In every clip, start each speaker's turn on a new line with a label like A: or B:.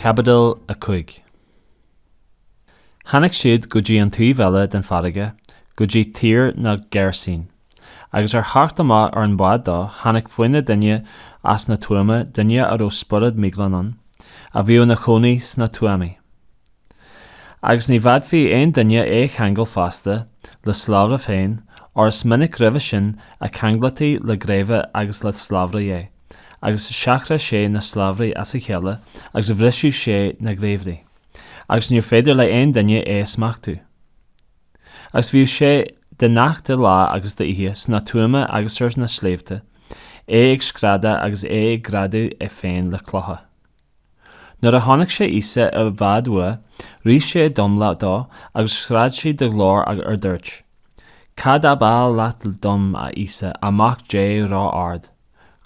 A: Caibidil 5 Tháinig siad go dtí an taobh eile den farraige, go dtí Tír na Geirsín. Agus ar theacht amach ar an mbád dó, tháinig faoina dhéin as na tuama, duine a raibh spiorad míghlan ann, a bhíodh ina chónaí sna tuamaí. Agus ní bhféadfadh aon duine é a cheangal feasta, le slabhra féin, óir is minic roimhe sin a cheanglaítí le geimhle agus le slabhraí é, agus sracadh sé na slabhraí as a chéile agus bhriseadh sé na geimhle, agus níor féidir le aon duine é a smachtú. Agus bhíodh sé de ghnáth de lá agus d'oíche sna tuama agus ar na sléibhte, é ag screadadh agus é ag greadadh é féin le clocha. Nuair a chonaic sé Íosa i bhfad uaidh, rith sé d'umhlaigh dó agus scread sé de ghlór ard, dúirt, Cad ab áil leat dom, a Íosa, a Mhac Dé ró-ard?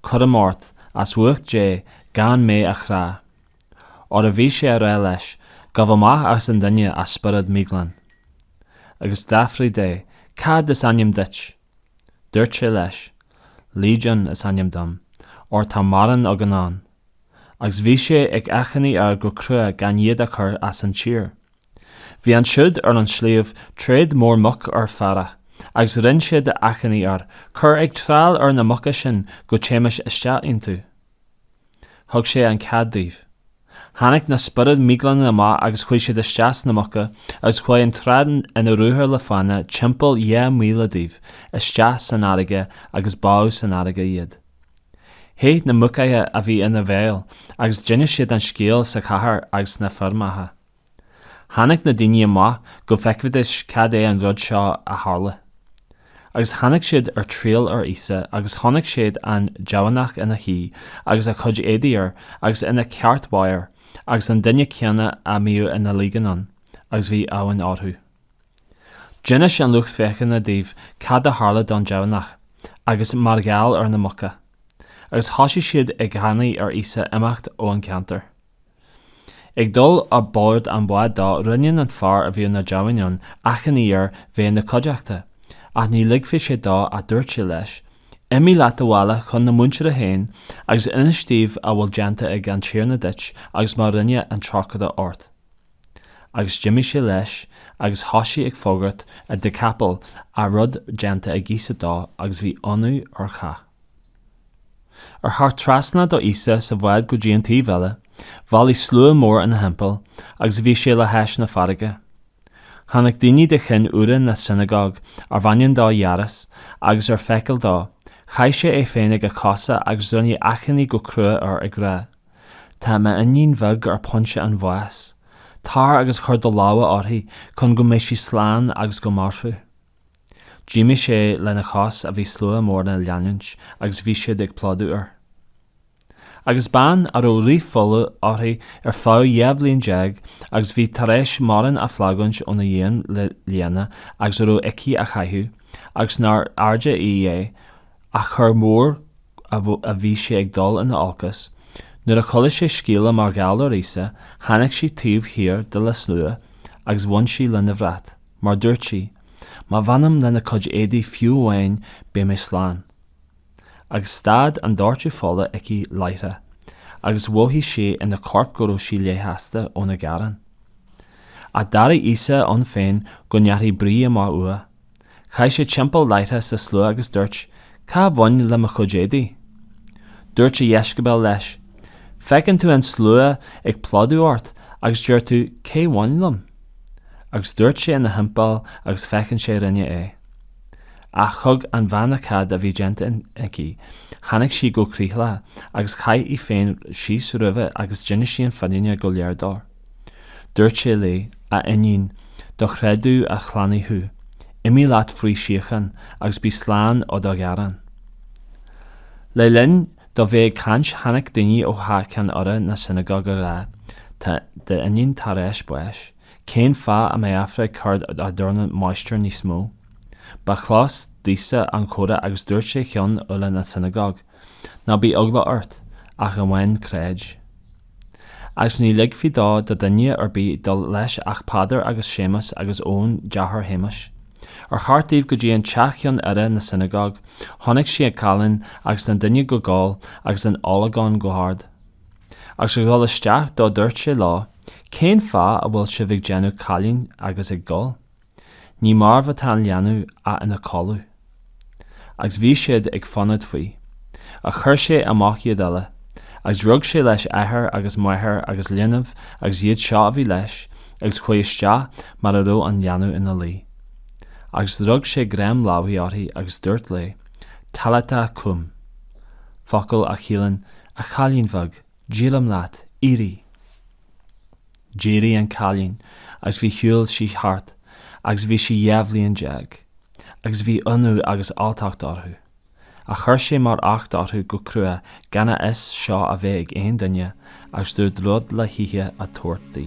A: Cuirim ort, as ucht Dé, gan mé a chrá. óir a bhí sé á rá leis, Gabh amach as an duine a spiorad mhíghlan. Agus d'fhiafraigh de, Cad is ainm duit? Dúirt sé leis, Legion is ainm dom, óir tá mórán againn ann. Agus bhí sé ag achainí air go crua gan iad a chur as an tír. Bhí ansiúd ar an sliabh tréad mór muc ar féarach, agus rinne siad achainí air, Cuir ag triall ar na muca sinn go dtéimis isteach iontu. Thug sé an cead dóibh. Tháinig na spioraid mhíghlana amach agus chuaigh siad isteach sna muca agus chuaigh an tréad ina ruathar le fána timpeall dhá mhíle díobh isteach san fharraige agus bádh san fharraige iad. Theith na muicithe a bhí ina bhfeighil agus d'inis siad an scéal sa chathair agus sna feirmeacha. Tháinig na daoine amach go bhfeicfidis cad é an rud seo a tharla. Agus tháinig siad ar triall ar Íosa agus chonaic siad an deamhanach ina shuí agus a chuid éadaigh air agus ina cheartmheabhair agus an duine céanna a mbíodh an Léigiún ann, agus bhí uamhan orthu. D'inis an lucht féachana dóibh cad a tharla don deamhanach agus mar gheall ar na muca. Agus thoisigh siad ag achainí ar Íosa imeacht ón gceantar. Ag dul a' bord an bháid dó, rinne an fear a bhíodh na deamhain ann achainí air bheith 'na chuideachta, ach ní ligfeadh sé dó ach dúirt sé leis, Imigh leat abhaile chun na muintire féin agus inis díobh a bhfuil déanta ag an Tiarna duit agus mar rinne an trócaire ort. Agus d'imigh sé leis agus thoisigh ag fógairt a' Deacapoil a raibh déanta ag Íosa dó agus bhí ionadh ar chách. Ar theacht trasna do Íosa sa bhád go dtí an taobh eile, bhailigh slua mór ina thimpeall agus bhí sé le hais na farraige. Tháinig duine de chinn urra na sionagóg arbh ainm dó Iáras, agus ar feiceáil dó, chaith sé é féin ag a chosa agus rinne achainí go crua air ag rá, Tá m'iníon bheag ar phointe an bháis. Tar agus cuir do lámha uirthi chun go mbeidh sí slán agus go mairfeadh. D'imigh sé lena chois a bhí slua mór á leanúint agus bhí siad ag plódú air. Agus bean a raibh rith fola uirthi ar feadh dhá bhliain déag agus bhí tar éis mórán a fhulaingt óna dhíon le lianna agus a raibh aici a chaitheamh agus nárbh fhearrde í é ach gur mó a bhí sé ag dul ina olcas, nuair a chuala sé scéala mar gheall ar Íosa tháinig sí taobh thiar de le slua agus bhain sí lena bhrat. Mar dúirt sí, Má bhainim lena cuid éadaí fiú amháin beidh mé slán. Agus stad an doirteadh fola aici láithreach agus mhothaigh sé ina corp go raibh sí leigheasta óna gearán. Ach d'airigh Íosa ann féin go ndeachaigh brí amach uaidh. Chaith sé timpeall láithreach sa slua agus dúirt, Cé bhain le mo chuid éadaí? Dúirt a dheisceabail leis, Feiceann tú an slua ag plódú ort agus deir tú, Cé bhain liom? Agus dhearc sé ina thimpeall agus féachaint cé rinne é. Ach thuig an bhean cad a bhí déanta aici, tháinig sí go critheaglach agus chaith í féin síos roimhe agus d'inis sí an fhírinne go léir dó. Dúirt sé léi, A iníon, do chreideamh a shlánaigh thú, imigh leat faoi shíocháin agus bí slán ó do ghearán. Le linn. dó bheith ag caint, tháinig daoine ó theach ceann urra na sionagóg á rá, Tá d'iníon tar éis báis. Cén fáth a mbeifeá ag cur as don máistir níos mó? Ba chlos d'Íosa an comhrá agus dúirt sé cheann urra na sionagóg, Ná bí eagla ort, ach amháin creid. Agus ní ligfí dó do duine ar bith dul leis ach Peadar agus Séamas agus Eoin, deartháir Shéamais. Ar theacht dóibh go dtí an teach cheann urra na sionagóg. Chonaic sé an callán agus na daoine ag gol agus ag olagón go hard. Agus ag dul isteach dó dúirt sé leo, Cén fáth a bhfuil sibh ag déanamh calláin agus ag gol? Ní marbh atá an leanbh ach ina codladh. Agus bhí siad ag fonóid faoi. Ach chuir sé amach iad uile, agus rug sé leis athair agus máthair agus linbh agus iad seo a bhí leis, agus chuaigh isteach mar a raibh an leanbh ina luí. Agus rug sé greim láimhe uirthi agus dúirt léi, Talitá cúm, focal a chiallaíonn, A chailín bheag, Deirim leat, éirigh! D'éirigh an cailín agus bhí shiúil sí thart agus bhí sí dhá bhliain déag, agus bhí ionadh agus alltacht orthu. Ach chuir sé mar acht orthu go crua gan a fhios seo a bheith ag aon duine agus dúirt rud le hithe a tabhairt di.